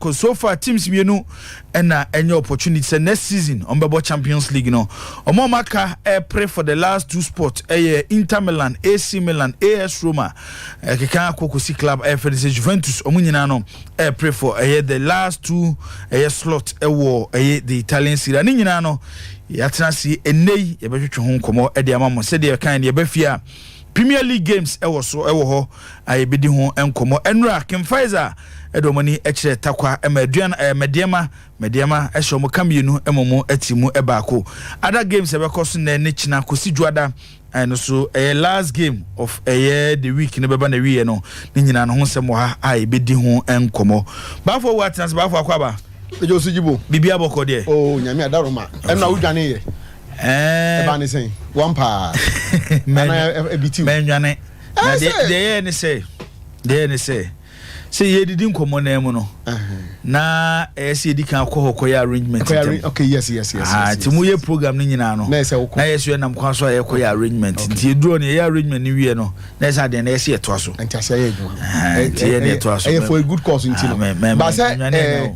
Cos so far teams mmienu na ɛnyɛ opportunity sɛ next season wɔn bɛbɔ champions league no. Wɔn a wɔn aka ɛrepre for the last two spot ɛyɛ Inter Milan, AC Milan, AS Roma, ɛkeka akɔ kɔsi club ɛyɛ fɛ no sɛ Juventus, wɔn nyinaa no ɛrepre for ɛyɛ the last two ɛyɛ slot ɛwɔ ɛyɛ the Italian Serie A. Ne nyinaa no yɛatena ase ɛnnɛ yi yɛbɛtwetwe ho nkɔmmɔ ɛde ama mo sɛdeɛ ɛkan no yɛbɛfie a. Premier League games wɔ so wɔ hɔ a yɛbɛdi ho nkɔmmɔ. Nnura, King Faisal de wɔn ani kyerɛ Takwa ma aduan eh, Madiama, Madiama hyɛ wɔn ka mmienu mmom ti mu baako. Ada games a ɛbɛkɔ so nnɛ ne kyena kɔsi dwoada eh, no so ɛyɛ last game of ɛyɛ the week no bɛba na wieɛ no ne nyinaa no ho nsɛm wɔ ha a yɛbɛdi ho nkɔmmɔ. Baafo awu atena se, baafo akɔ aba. Ejo so jibo. Bibi abɔkɔ deɛ. Oh, nyame adaroma. Ɛno a wodwane yɛ. ɛba ne sɛn wɔn paa anaa ebi tiw mɛnwane na deɛ deɛ yɛ ne sɛ deɛ yɛ ne sɛ sɛ yɛdidi nkɔmmɔ nan mu no na ɛyɛ sɛ yɛdi kan kɔ hɔ kɔyɛ arrangement ntam okay yes yes yes ah ti mu yɛ program no nyinaa no na yɛ sɛ yɛnam kwan so a yɛkɔyɛ arrangement nti yɛduro no yɛyɛ arrangement no wie no na yɛ sɛ adeɛ na yɛ sɛ yɛtoa so nti yɛ ne ɛtoa so ɛyɛ for a good cause nti no ba sɛ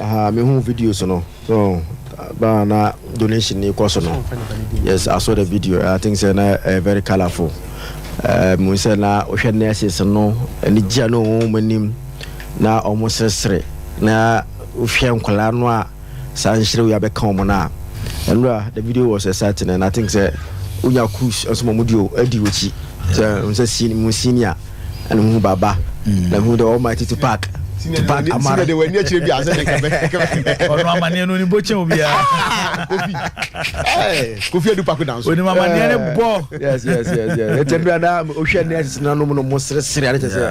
Ahaa me hu videos no so baa na donation ni kɔ so no yes I saw the video I think say na uh, very colorful uh, mu sɛ na wohwɛ nurses no ɛni gya no wɔn wɔn anim na wɔn sresere na wohwɛ nkwadaa no a saa nhyerɛ wo yabɛka wɔn no a ɛnura the video was exciting and I think sɛ wonya cruise nso wɔn di o adi wɔkyi sɛ sɛ senior. ɛna mehu baba na mehu the almighty tupac tupac amara de wani akyire bi asɛ de kɛbɛ ɔno amaneɛ no onibɔ kyɛn obiara kofi kofi adu pako dan so onim amaneɛ ne bɔ yes yes yes yes ɛtɛ bi ada ohwɛ ne ɛsesena nom no mo seresere ade kyɛ sɛ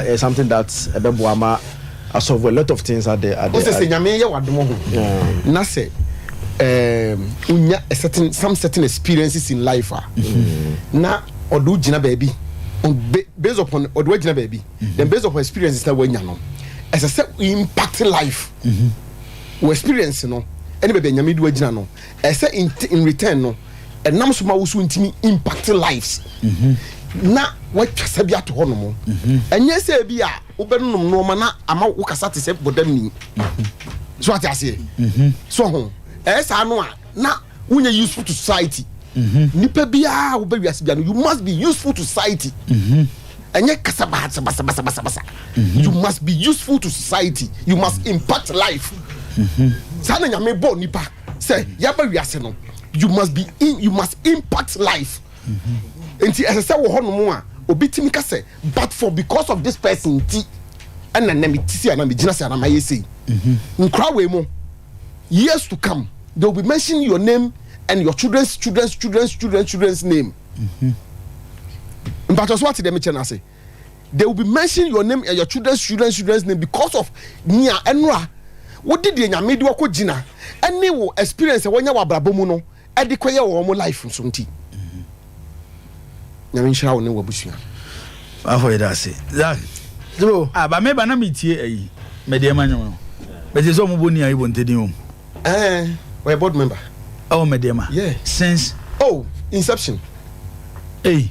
ɛyɛ something that ɛbɛboa ma Asɔfo a lot of things are there are there. Ɔsɛ sɛ Nyame yɛ w'adom ho na sɛ um, unya a certain some certain experiences in life a mm-hmm. na ɔde wo gyina baabi based upon ɔde wo gyina baabi mm-hmm. then based upon experiences na wanya no ɛsɛ sɛ impact life mm-hmm. wɔ experience no ɛne baabi a Nyame de wagyina no ɛsɛ in return no ɛnam so ma wo so ntumi impact lives na watwa sɛ bi ato hɔ nom ɛnyɛ sɛ bi a wobɛnom nnoɔma na ama wo kasa te sɛ bɔdamni so ate aseɛ mhm. so ho ɛyɛ saa no a na wonyɛ useful to society mhm. nipa biara wobɛ wiase bia no you must be useful to society mhm. ɛnyɛ kasa basabasabasabasa you must be useful to society you must impact life saa na nyame bɔɔ nipa sɛ yɛaba wiase no you must be in you must impact life nti ɛsɛ sɛ wɔ hɔnom a obi tumi ka sɛ but for because of this person nti ɛna na mete sei anaa megyina sei anaa mayɛ sei nkora wei mu years to come they will be mentioning your name and your children's children's children's children's children's name mpatwa so ate dɛm kyɛ no ase they will be mentioning your name and your children's children's children's name because of nea ɛnora wode deɛ nyame de wakɔ gyina ɛne wo experience a wɔnyɛ wɔ abrabɔ mu no ɛde kɔyɛ wɔ wɔn life so nti nyame nhyira wo ne w'abusua wafɔ yɛ dase zak duro a ba meba na metie ayi mede ɛma nwom no bɛte sɛ ɔmobɔ ni ayi bɔ ntɛdin wɔ mu ɛɛ ɔyɛ board member ɛwɔ mede ɛma since oh inception ei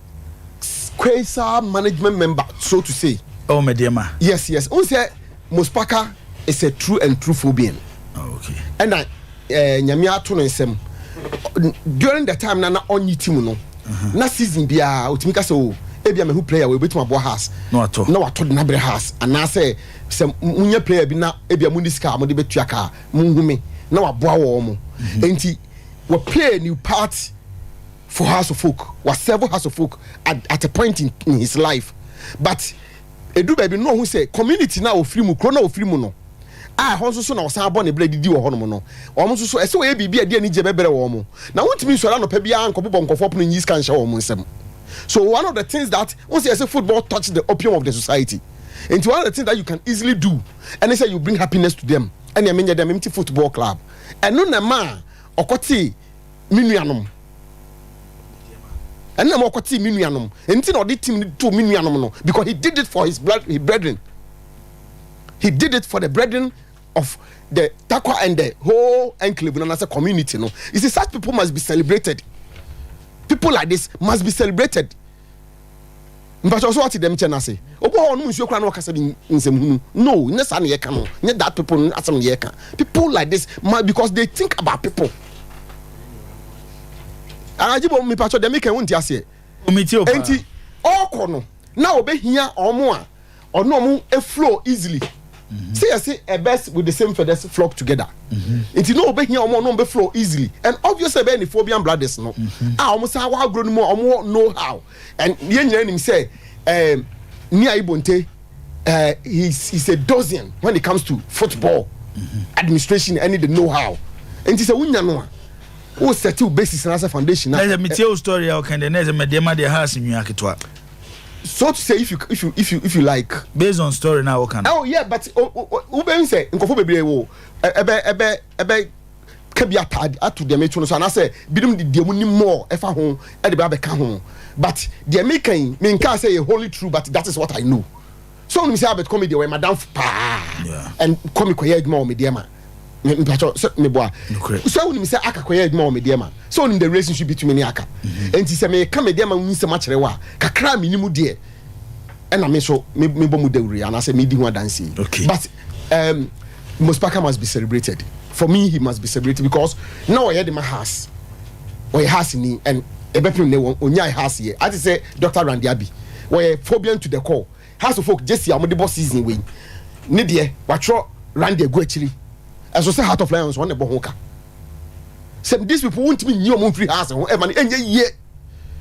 Quasar management member so to say. Oh me deɛ ma. Yes yes. N sɛ Mospaka is a true and true Phobian. Oh, okay. Ɛna eh, nyame ato no nsɛm during the time na na ɔnyi team no. Uh-huh. Na season biara otumi ka sɛ o oh, ebi a mehu player wɔ ebetumi aboa house. Na wato. Na wato de n'abere house anaasɛ sɛ munya player bi na ebi a mu ni sika a mo de betua kaa mu nhu me na waboa wɔn mo. Mm-hmm. Nti wɔ play new part. for house of folk wa serve house of folk at, at a point in, in his life but edu baabi no ɔho sɛ community na ofiri mu kuro na ofiri mu no a ɛhɔ nso so na ɔsan abɔ ne berɛ didi wɔ hɔnom no wɔn nso so ɛsɛ wɔyɛ biribi a ɛde anigye bɛbrɛ wɔn mo na wontumi nsɔre anɔpa biara nkɔbobɔ nkɔfoɔ pono nyi sika nhyɛ wɔn nsam so one of the things that once you say football touch the opium of the society nti one of the things that you can easily do ɛne sɛ you bring happiness to them ɛne ɛmenyɛ dɛm mte football club ɛno na ɛma a ɔkɔtee me nuanom ɛnna ma ɔkɔtee me nuanom nti na ɔde tim no too me nuanom no because he did it for his blood his brethren he did it for the brethren of the takwa and the whole enclave no anasɛ community no you see such people must be celebrated people like this must be celebrated. mpatsɔ ɔsɛ ɔte dɛm kyɛn ase obi wɔ hɔ ɔnom nsuo koraa na ɔkasa bi nsɛm hunu no nyɛ saa na yɛka no nyɛ that people no asɛm na yɛka people like this ma because they think about people anagye bɔ mi patsɔ dɛm kɛn wo nti aseɛ enti ɔkɔ no na ɔbɛhia ɔmo a ɔno ɔmo flow easily mhm. sɛ yɛse a birds with the same feathers flock together mhm. nti na ɔbɛhia ɔmo ɔno ɔmo flow easily and obviously ɛbɛyɛ ne phobian brothers no mhm. a ah, ɔmo saa wɔ agorɔ no mu a ɔmo wɔ know how and yɛn nyinaa nim sɛ ɛɛ ní ayibonte ɛɛ he is a dozen when it comes to football administration ɛne the know how nti sɛ wonya no a o sɛti o basis na sɛ foundation na. ɛsɛ mi tie o story a ɔkàn dɛ na ɛsɛ mɛ deɛ ma deɛ ha asenwia ketewa. so to say if you if you if you if you like. based on story na woka no. oh yeah but wobɛhu sɛ nkɔfo bebree wo ɛbɛ ɛbɛ ɛbɛ ka bi ataade ato deɛ meto no so anaasɛ binom de deɛ mu ni mɔɔ ɛfa ho ɛde bɛ abɛka ho but deɛ meka yi menkaa sɛ yɛ holy true but that is what i know. so wonim sɛ abɛt comedy wɔyɛ madamfo paa and kɔ mekɔyɛ adwuma wɔ medeɛ ma mpakyɛ sɛ meboa sɛ wonim sɛ aka kɔyɛ adwuma wɔ medeɛ ma sɛ wonim the relationship between me ne aka ɛnti mhm. sɛ meka medeɛ ma wonsɛm akyerɛ wo a kakra a menim deɛ ɛna me so mebɔ mu dawuro anaasɛ medi ho adanseɛ but Um, Mospaka must be celebrated. For me, he must be celebrated because now I the my house. Or your house ni and ebepim ne won onya house here. I say Dr. Randy Abi. Where phobia to the call. House of folk Jesse I'm the boss season way. Ne deɛ watwerɛ Randy agu akyiri. Ɛso sɛ Heart of Lions wɔn na ɛbɔ ho ka. Sɛ these people wontumi nyi wɔn mfiri house ho ɛma no ɛnyɛ yie.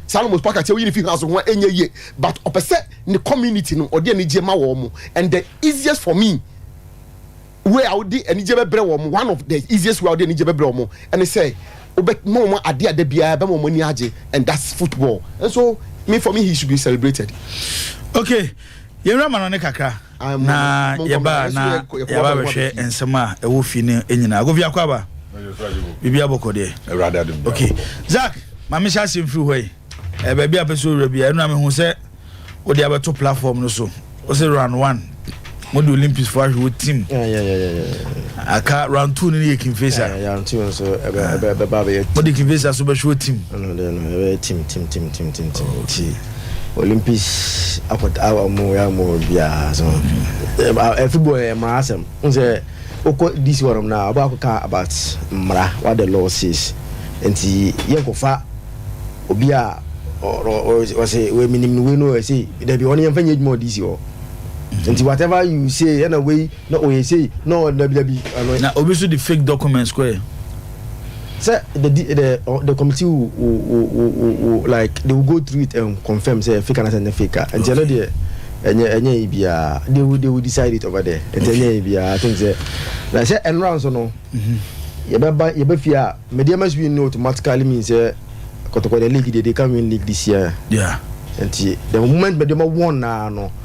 Salomo pa ka sɛ oyi ne fi house ho a ɛnyɛ yie but ɔpɛ sɛ ne community no ɔde anigye ma wɔn and the easiest for me way a wode anigye bɛbrɛ wɔn one of the easiest way a wode anigye bɛbrɛ wɔn ɛne sɛ wobɛma wɔn adeɛ ada biara bɛma wɔn ani agye and that's football and so me for me he should be celebrated. Okay, yɛwura ma no ne kakra. Na yɛbaa na yɛaba bɛhwɛ nsɛm a ɛwɔ fie no nyinaa kofi akɔ aba biribi abɔkɔ deɛ awurade adom ok zak ma mehyɛ asɛm firi hɔ yi eh, baabi a pɛ sɛ owura bia ɛno a mehu sɛ wode abɛto platform no so wo sɛ round one mode olympics fo ahwe wo team aka round two no ne yɛ kimfesa mode kimfesa so bɛhwe wo team olympics akɔta a wɔn yɛ a wɔn biara so ɛfi bɔ yɛ mmara asɛm n sɛ wokɔ dc hɔ nom na ɔbɛ akɔka about mmara what the law says nti yɛn kɔfa obi a ɔsɛ wei minim no wei no ɛsɛ dabi ɔno yɛn fɛ nyɛ adwuma wɔ dc hɔ nti whatever you say ɛna wei na ɔyɛ sei na ɔyɛ dabi dabi. na obi nso de fake documents kɔɛ. sɛ the the the committee wo wo wo wo like they will go through it and confirm sɛ fake anasɛ ne fake a nti ɛno deɛ ɛnyɛ ɛnyɛ yi biara they will they will decide it over there nti ɛnyɛ yi biara i think sɛ na sɛ ɛnora nso no mhm. yɛbɛba yɛbɛfie a medeɛ ma swin no automatically mean sɛ kɔtɔkɔ the league deɛ they can win league this year yeah. nti the moment mɛdeɛ ma wɔn naa no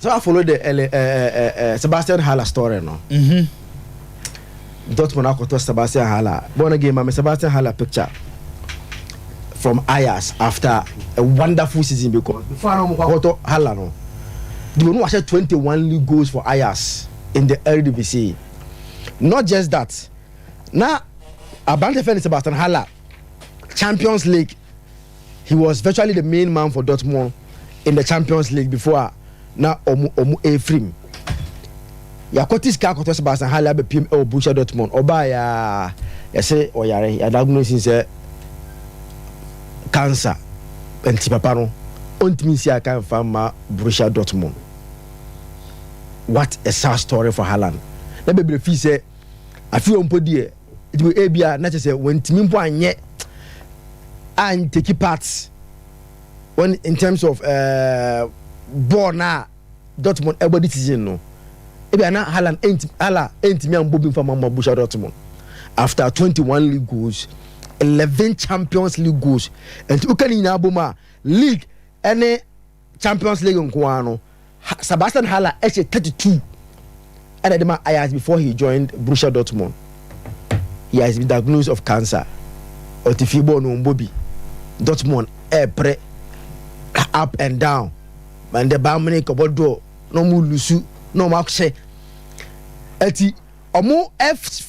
Sɛ wa follow the ɛlɛ ɛɛ eh, ɛɛ eh, eh, Sebastian Haller story no. Mhm. Dortmund akɔtɔ Sebastian Haller. Bɔn no game ma me Sebastian Haller picture from Ajax after a wonderful season because before no mo akɔtɔ Haller no. Di onu ahyɛ 21 league goals for Ajax in the Eredivisie. Not just that. Na abrante fɛ ne Sebastian Haller Champions League he was virtually the main man for Dortmund in the Champions League before a na ɔmo ɔmo efirim yakɔte sika akɔtɔ Sebastian Haller abɛpiem ɛwɔ Borussia Dortmund ɔbaa yaa yɛsɛ ɔyare yɛadagunesi sɛ cancer nti papa no ɔntumi nsi aka nfa mma Borussia Dortmund what a sad story for Haaland na bebree fii sɛ afei ɔmpo deɛ Enti ebia na kyerɛ sɛ wɔntumi mpo anyɛ anteki part wɔn in terms of uh, bɔɔl no a Dortmund ɛbɔ de season no ebia na Haaland ɛntumi Hala ɛntumi ambɔ bi mfa mama Borussia Dortmund after 21 league goals 11 Champions League goals nti woka ne nyinaa bom a league ɛne Champions League nko ara no, Sebastian Haller hyɛ 32 ɛna ɛde ma Ajax before he joined Borussia Dortmund. He has been diagnosed of cancer. Ɔte fie bɔɔl no ɔmbɔ bi. Dortmund ɛɛpere up and down. But the Bayern Munich ɔbɔ draw na ɔmo lusu na ɔmo ahyɛ. Ɛti ɔmo ɛf.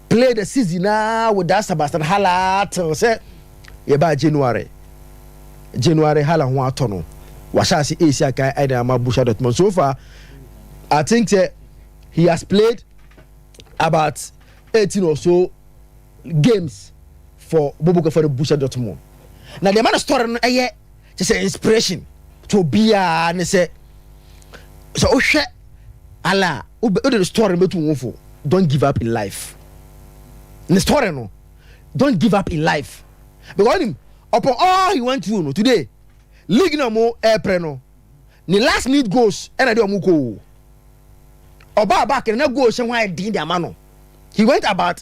play the season naa with that Sebastian Haller till sɛ yɛbaa January January Haller ho atɔ no wahyɛ ase ɛsi akan ɛna ama Borussia Dortmund so far I think sɛ he has played about 18 or so games for Bobo Kafari Borussia Dortmund na deɛ ma no story no ɛyɛ kyɛ sɛ inspiration to obiara ne sɛ sɛ wohwɛ ala a wode ne story no bɛtu wo fo don't give up in life ne story no don't give up in life because ɔnim upon all he went through no today league na ɔmo ɛɛprɛ no ne last minute goals ɛna de ɔmo kɔ o ɔbaa back na goals hyɛ ho ayɛ den de ama no he went about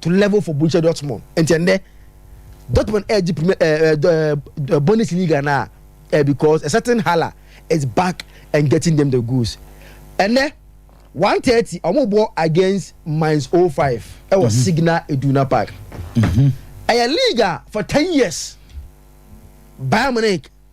to level for Borussia Dortmund. Nti ɛndɛ Dortmund ɛɛgye premier ɛɛ ɛɛ Bundesliga na ɛɛ because a certain Haller is back and getting them the goods. Ɛnɛ one thirty wɔn bɔ against Mainz 05 ɛwɔ mm-hmm. Signal Iduna Park. Mm-hmm. Ɛyɛ league a for ten years Bayern Munich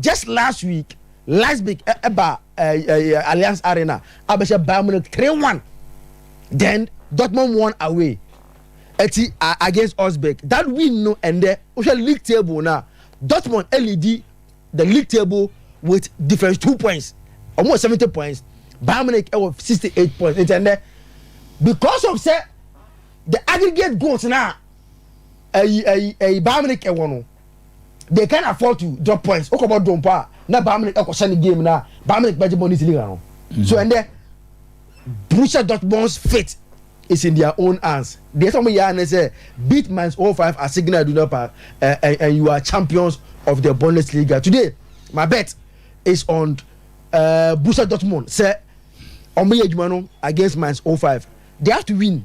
Just last week, Leipzig ɛba Allianz Arena abɛhyɛ Bayern Munich three one. Then Dortmund won away ɛti against Augsburg. That win no ɛndɛ wohwɛ league table na Dortmund ɛlidi the league table with difference two points. Wɔn wɔ seventy points. Bayern Munich ɛwɔ sixty eight points. Nti ɛndɛ because of sɛ the aggregate goals na ɛyi ɛyi ɛyi Bayern Munich ɛwɔ no. they can afford to drop points wokɔ bɔ dom pa na Bayern Munich ɛkɔ hyɛ ne game na Bayern Munich bɛgye Bundesliga no so mm. ɛndɛ Borussia Dortmund's fate is in their own hands deɛ sɛ wɔn yɛ anɛ sɛ beat minus oh five at Signal Iduna Park uh, and, and you are champions of the Bundesliga today my bet is on uh, Borussia Dortmund sɛ wɔn yɛ adwuma no against minus oh five they have to win.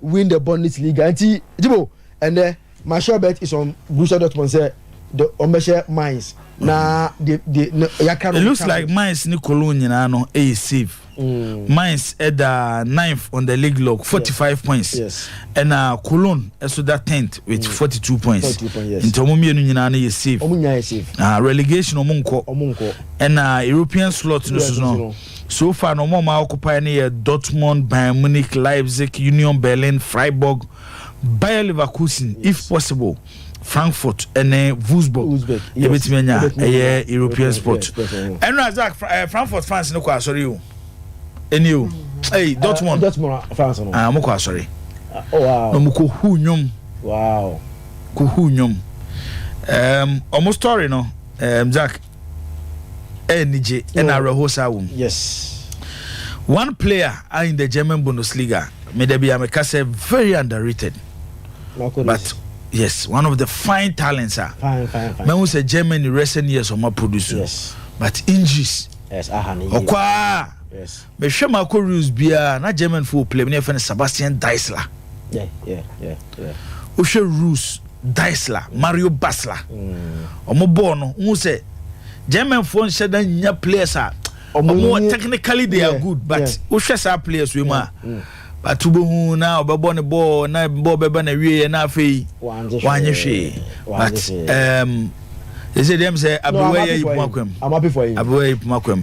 win the Bundesliga nti Jibo ɛnɛ my sure bet is on Borussia Dortmund sɛ de wɔn bɛhyɛ Mainz na de de ne yaka no. It looks like Mainz ne Cologne nyinaa no ɛyɛ safe. Mm. Mainz ɛda ninth on the league log forty five yes. points yes. ɛna Cologne ɛso da tenth with mm. forty two points nti wɔn mmienu nyinaa no yɛ safe. Wɔn nyinaa yɛ safe. Ah relegation wɔn nkɔ. Wɔn nkɔ. ɛna European slot no so no. So far no, wɔn a wɔn occupy no yɛ Dortmund, Bayern Munich, Leipzig, Union Berlin, Freiburg, Bayer Leverkusen, if possible, Frankfurt ne Wolfsburg. Ebetumi anya ɛyɛ European spot. Ɛno a Zach, eh, Frankfurt fans no kɔ asɔre o. Ɛni o. Hey, ah, Dortmund. Dortmund fans no. Ah, wɔn kɔ asɔre. Ah, oh, wow. Na wɔn kɔ hu nnwom. Wow. Kɔ hu nnwom. Um, wɔn story no, um, Zach. anigye ɛna awerɛhoɔ saa wɔ mu one player a in the german bundesliga meda bia meka sɛ very underrated but yes one of the fine talents a mahu sɛ germany recent years ɔma produce but injuries ɔkɔ a Mehwɛ makɔ reels biara na German fo wɔ play mu na yɛfɛ no Sebastian Deisler. Wohwɛ reels Deisler, Mario Basler. Mm. Wɔn bɔɔl no, n sɛ German fo nhyɛ da nya players a wɔn technically they are good but wohwɛ saa players wei mu a. Mm. But wobɛhu na ɔbɛbɔ ne bɔɔl na bɔɔl bɛba na wieɛ na afei wanyɛ hwee but um, ɛsɛ deɛ m sɛ abewa yɛ yi poma kwam abewa yɛ yi poma kwam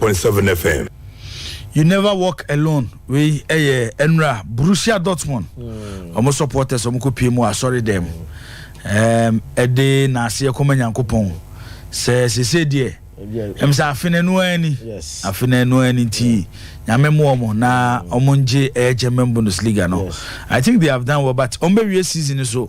point seven FM. You never walk alone wei ɛyɛ ɛnura Borussia Dortmund hmm. wɔn supporters wɔn kɔ pie mu asɔre dɛm ɛɛm ɛde n'aseɛ kɔma nyankopɔn sɛ sese deɛ ɛm sɛ afe na ɛnu ani afe na ɛnu ani nti nyame mu wɔn na wɔn ngye ɛyɛ German Bundesliga no I think they have done well but wɔn bɛ wie season so.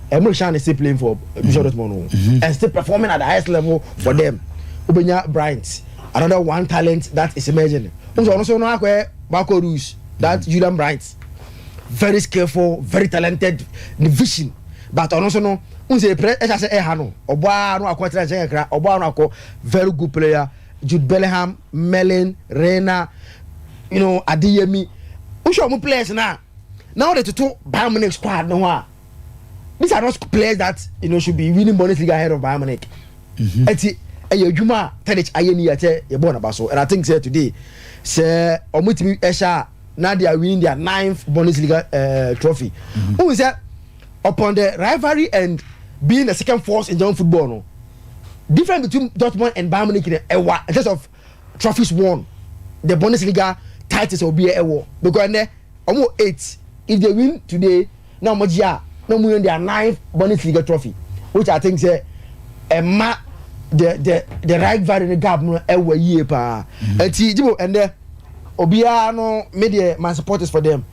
ɛmu de hyɛn ne still playing for Borussia Dortmund o mm-hmm. and still performing at the highest level for them wobɛnya Bryant another one talent that is emerging n sɛ ɔno so no akɔɛ Marco Reus that mm-hmm. Julian Bryant very skillful very talented ne vision but ɔno so no n sɛ ɛpɛrɛ ɛhyɛ sɛ ɛha no ɔbɔ a no akɔ tena nkyɛn kakra ɔbɔ a no akɔ very good player Jude Bellingham Merlin Reina you know Adeyemi wohwɛ ɔmo players no a na wode toto Bayern Munich squad no ho a these are not players that you know should be winning Bundesliga ahead of Bayern Munich. Mm-hmm. Eti ɛyɛ adwuma a Tadic ayɛ ni yɛkyɛ yɛbɔ n'aba so and I think sɛ today sɛ wɔn ti mi ɛhyɛ a na they are winning their ninth Bundesliga uh, trophy. Mm-hmm. Ohun sɛ upon the rivalry and being the second force in German football no difference between Dortmund and Bayern Munich ɛwa in terms of trophies won the bundesliga titles a obiara ɛwɔ because ɛnɛ wɔn wɔ eight if they win today na wɔn gye a na wɔn yɛ their ninth bundesliga trophy which i think sɛ ɛma the the the rivalry ne gap no ɛwɔ yie paa ɛti gyibo ɛnɛ obiara no me deɛ my support is for them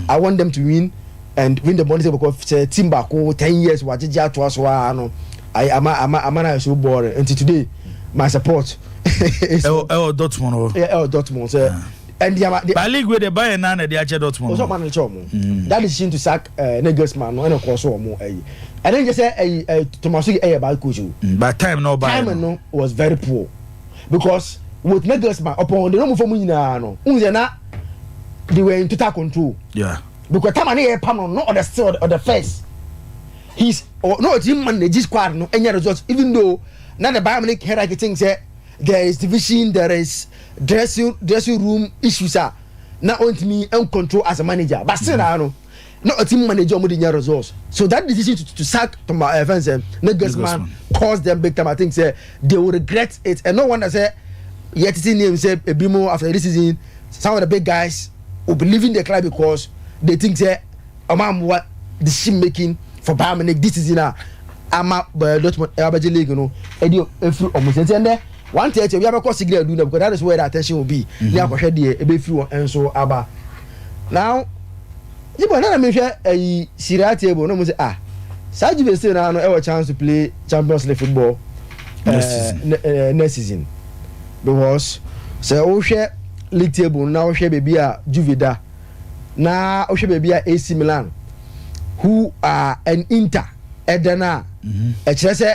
I want them to win and win the money sɛ because sɛ team baako ten years wagyegye atoa so aa no ayi ama ama ama na ayɛ so boring nti today my support. ɛwɔ ɛwɔ Dortmund hɔ. ɛwɔ Dortmund sɛ. ɛndi ama de. ba league wey de Bayern na na ɛde akyɛ Dortmund. ɔsɔ ɔman no kyɛ ɔmo. Mm. that decision to sack eh, Nagelsmann no ɛna kɔɔ so ɔmo ɛyi ɛna n yɛ sɛ ɛyi Thomas Tuchel ɛyɛ bad coach o. Mm, but time na ɔba yɛ no. time no was very poor. because wɔtena girls ma ɔpɔn ɔde no mu fam nyinaa no n sɛ na they were in total control yeah because tama ne yɛ pam no no ɔde still ɔde first he's no ɔtí man na egi squad no enya result even though na the Bayern Munich hierarchy think sɛ there is division there is dressing dressing room issues a na ɔntumi n control as a manager but still na no. na ɔtim manager ɔmo de nya results so that decision to, to sack toma uh, eh, fɛn sɛ Nagelsmann caused them big time I think sɛ they will regret it and no wonder sɛ yɛ tete name sɛ ebi mo after this season some of the big guys will be leaving the club because they think sɛ ɔmo amoa decision making for Bayern Munich this season a ama uh, Dortmund ɛwabɛgye eh, league no ɛdi efiri ɔmo sɛ ɛnti ɛnɛ. Wɔanteɛteɛ obiara bɛkɔ signal du na because that is where the attention will be ne akɔhwɛ deɛ ɛbɛfiri hɔ nso aba. Now, gye bɔ na na mehwɛ ayi Serie A table na ɔmo sɛ ah saa Juve still no ara no ɛwɔ chance to play Champions League football Next eh, season. ne- eh, next season because sɛ wohwɛ league table no na wohwɛ baabi a Juve da na wohwɛ baabi a AC Milan who are an Inter ɛda no a ɛkyerɛ sɛ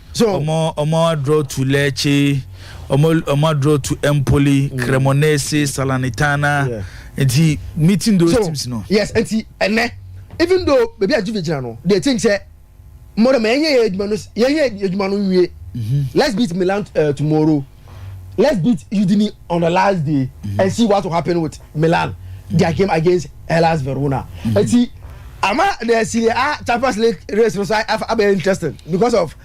So Omo omo adrɔ tu lɛɛkye, omo omo adrɔ tu Empoli, mm. Cremonese, mm. Salernitana. Yeah. Nti meeting those so, teams no. Yes, nti ɛnɛ even though baby a Juve gyina no, they think sɛ mo dɛm yɛnyɛ yɛ adwuma no yɛnyɛ adwuma no nwie. Mm-hmm. Let's beat Milan uh, tomorrow. let's beat Udine on the last day mm -hmm. and see what will happen with Milan their game against Hellas Verona mm -hmm. eti ama the Serie A Champions League race no so abɛ interesting because of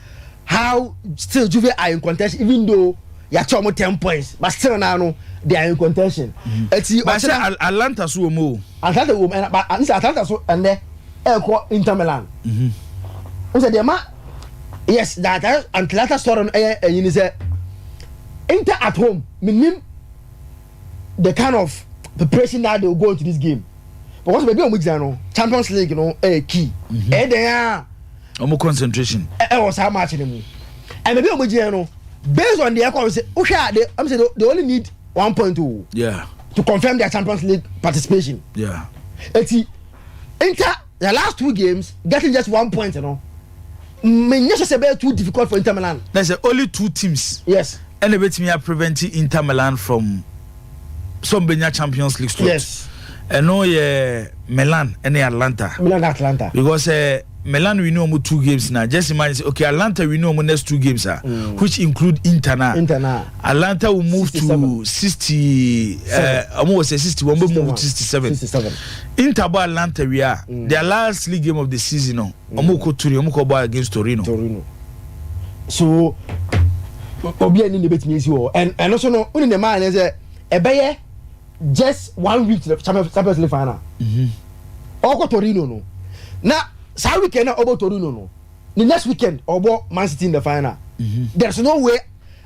how still Juve are in contention even though yàtọ̀ ọmọ ten points but still na no they are in contention. ẹtì mm-hmm. ọ̀kyẹ́dá Atlanta so wọ́n mu o. Atlanta wọ́n mu ẹ̀ na but n sẹ́ Atlanta so ẹ̀nẹ́ ẹ̀ kọ́ Inter Milan. n sẹ́ deẹ̀ ma. yes that eh, antilata story no ɛyɛ ɛyi ni sɛ inter at home menim the kind of preparation that they will go into this game because baabi a wɔn gyina no champions league no ɛyɛ key mhm. ɛyɛ dɛn a. wɔn concentration. ɛwɔ saa match no mu ɛna baabi a wɔn gyina no based on the ɛkɔ sɛ wohwɛ a they ɛm sɛ they only need one point o. Oh. yeah to confirm their champions league participation. yeah eti inter. Their last two games, getting just one point no, menyɛ sɛ sɛ ɛbɛyɛ too difficult for Inter Milan. Na sɛ only two teams. Yes. Ɛna ebetumi a prevent Inter Milan from some benya Champions League slot. Yes. Ɛno yɛ Milan ɛne Atlanta. Milan Atlanta. Because uh, Milan win wɔn two games na just imagine say okay Atlanta win wɔn next two games ah mm. which include Inter na Inter na Atlanta will move 67. to sixty ɛɛ wɔn wɔ sɛ sixty wɔn bɛ move to sixty seven. Inter bɔ Atlanta wie a, their last league game of the season no, wɔn kɔ Turin, wɔn kɔ bɔ against Torino. Torino. So obi ani na ebetumi esi wɔ ɛn ɛno so no wone ne maa ne sɛ ɛbɛyɛ just one week to the champions league final mhm. ɔkɔ torino no na saa weekend na ɔbɔ torino no the next weekend ɔbɔ man city in the final mhm. there's no way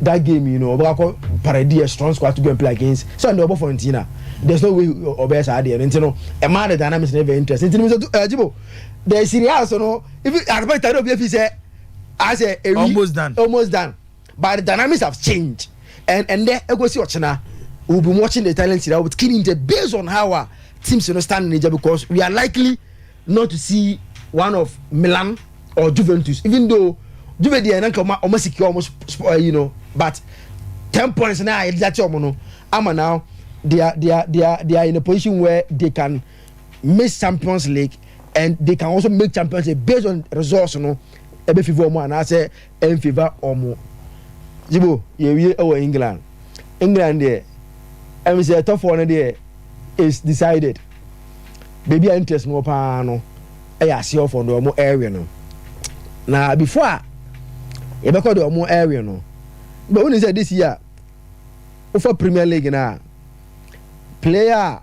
that game yi no ɔbɛka kɔ pare di a strong squad to go and play against sɛ ɔno ɔbɔ Fiorentina there's no way ɔbɛyɛ saa adeɛ no nti no ɛmaa the dynamics no very interesting nti no sɛ ɛgyibo eh, the Serie A so no if asopɛ tare obi afi sɛ asɛ ewi almost done almost done but the dynamics have changed and and ɛndɛ ɛkɔsi ɔkyena we'll be watching the Italian Serie A with keen interest based on how our teams you know standing because we are likely not to see one of Milan or Juventus, even though Juve deɛ nanka ɔma ɔma secure ɔmo spɔ ɛyi no but ten points na yɛde akyɛ ɔmo no ama now they are they are they are they are in a position where they can miss Champions League and they can also make Champions League based on results no ɛbɛ favour ɔmo anaasɛ Ɛmfefa wɔn. Yibo yɛwie wɔ England. England deɛ ɛm sɛ ɛtɔfoɔ no deɛ is decided. Baabi a interest no wɔ paa no ɛyɛ aseɛ ɔfɔ deɛ wɔn ɛrewe no. Na before a yɛbɛkɔ deɛ wɔn ɛrewe no. Bɛ wuni sɛ this year wofa Premier League no a player a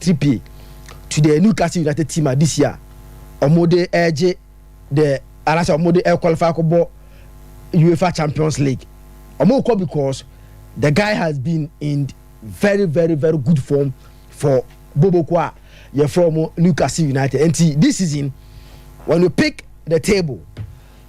Trippier to the Newcastle United team a this year wɔn de regye the anasɛ wɔn de requalify akɔbɔ UEFA Champions League. Wɔn rekɔ because the guy has been in very very very good form for Boboko a yɛfrɛ wɔn Newcastle United. Nti this season when you pick the table.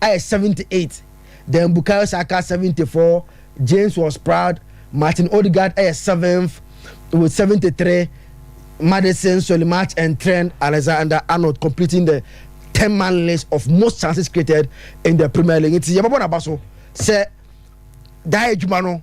ayɛ 78, then Bukayo Saka 74, James was proud, Martin Odegaard yɛ seventh with 73, Maddison, Solimat and Trent Alexander-Arnold completing the 10 man list of most chances created in the Premier League. Nti yɛbɛbɔ n'aba so sɛ daa adwuma no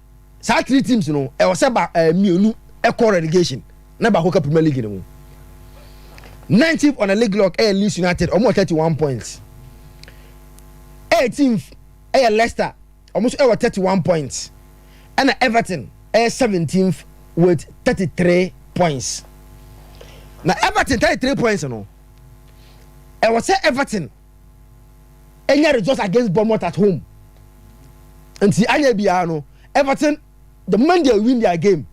saa three teams no ɛwɔ sɛ ba ɛɛ mmienu ɛkɔ relegation na baako ka premier league no mu nineteenth on the league log ɛyɛ leeds united wɔn wɔ thirty one points eighteenth ɛyɛ leicester wɔn nso ɛwɔ thirty one points ɛna everton ɛyɛ seventeenth with thirty three points na everton thirty three points no ɛwɔ sɛ everton. ɛnyɛ results against Bournemouth at home nti anyɛ biara no Everton the moment they win their game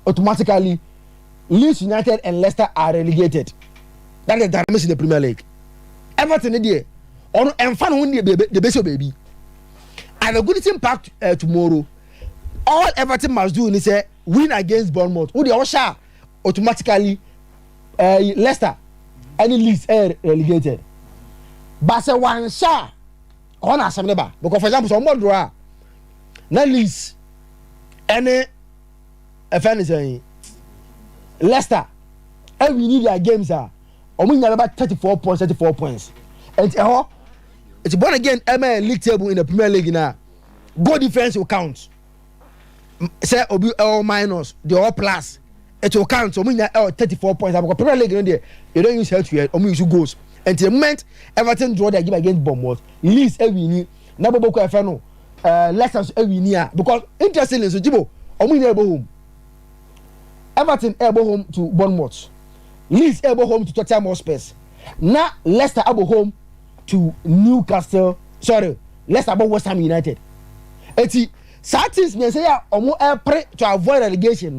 automatically Leeds United and Leicester are relegated that is the dynamics in the Premier League Everton deɛ ɔno ɛnfa ne ho ne de bɛsɛ baabi and the good thing back to, uh, tomorrow all Everton must do is sɛ win against Bournemouth wo deɛ ɔhyɛ a automatically ɛɛ eh, Leicester ɛne Leeds ɛyɛ eh, relegated ba sɛ wanhyɛ a ɔhɔ na asɛm ne ba because for example sɛ ɔmo draw a na Leeds ɛne ɛfɛ ne sɛn Leicester ɛwi ni their games a ɔmo nyinaa bɛba thirty four points thirty four points ɛnti ɛhɔ it's born again ɛmɛ league table in the Premier League na goal difference will count. sɛ obi ɛwɔ minus deɛ ɔwɔ plus it will count wɔn nyinaa ɛwɔ thirty four points abakɔ premier league no deɛ they don't use health yɛ wɔn use goals nti the moment everton draw their game against bournemouth leeds ɛwi ni na bɔbɔ kɔ ɛfɛ no ɛɛ leicester nso ɛwi ni a because interestingly nso jibo wɔn nyinaa ɛbɔ home everton ɛbɔ home to bournemouth leeds ɛbɔ home to tottenham hotspurs na leicester ɛbɔ home to newcastle sorry. Leicester bɔ West Ham United. Eti saa teams mmiɛnsa yi a wɔn ɛpere to avoid relegation no.